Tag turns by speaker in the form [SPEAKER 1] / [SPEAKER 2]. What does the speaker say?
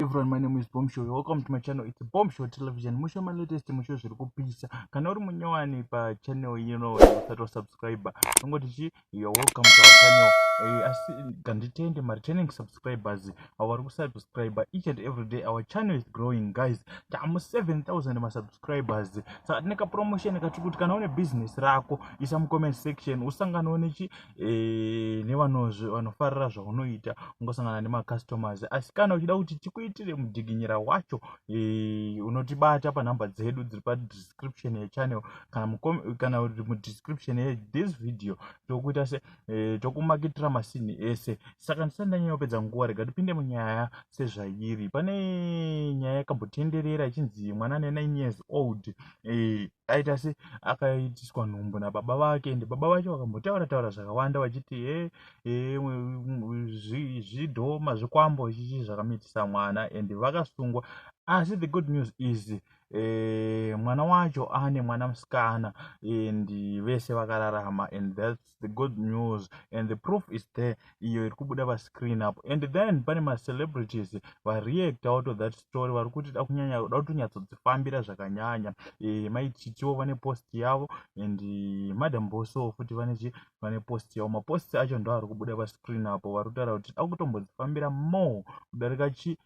[SPEAKER 1] everyone my name is bomb show welcome to my channel it's bomb show television musho my latest musho zviri kupisa kana uri munyowani pachannel ino usati wasubscriber tongo tichi you're welcome to our channel eh, asi nganditende mareturning subscribers avo vari kusubscriber each and every day our channel is growing guys tamu 7000 masubscribers saka tine kapromotion katiri kuti kana une business rako isa mucomment section usanganewo nechi e, nevanozve vanofarira zvaunoita ungosangana nemacustomers asi kana uchida kuti tikuitire mudiginyira wacho e, unotibata panhamba dzedu dziri padescription yechannel kana kana kuti mudescription yethis video tokuita se e, tokumakitira masini ese saka ndisati ndanyanya kupedza nguva rega tipinde munyaya sezvairi pane nyaya yakambotenderera ichinzi mwana ane 9 years old eh, aita se akaitiswa nhumbu nababa vake ende baba vake vakambotaura taura zvakawanda vachiti e eh, eh, zvidhoma zvikwambo chichi zvakamitisa mwana ende vakasungwa asi the good news is eh, mwana wacho ane mwana musikana and vese vakararama and thats the good news and the proof is there iyo iri kubuda pascreen apo and then pane macelebrities vareact out of that story vari kuti da kunyanya da kutonyatsodzifambira zvakanyanya e, mai chichiwo vane post yavo and eh, madam boso futi vane chi vane post yavo mapost acho ndo ari kubuda pascreen apo vari kutaura kuti da kutombodzifambira more kudarika chi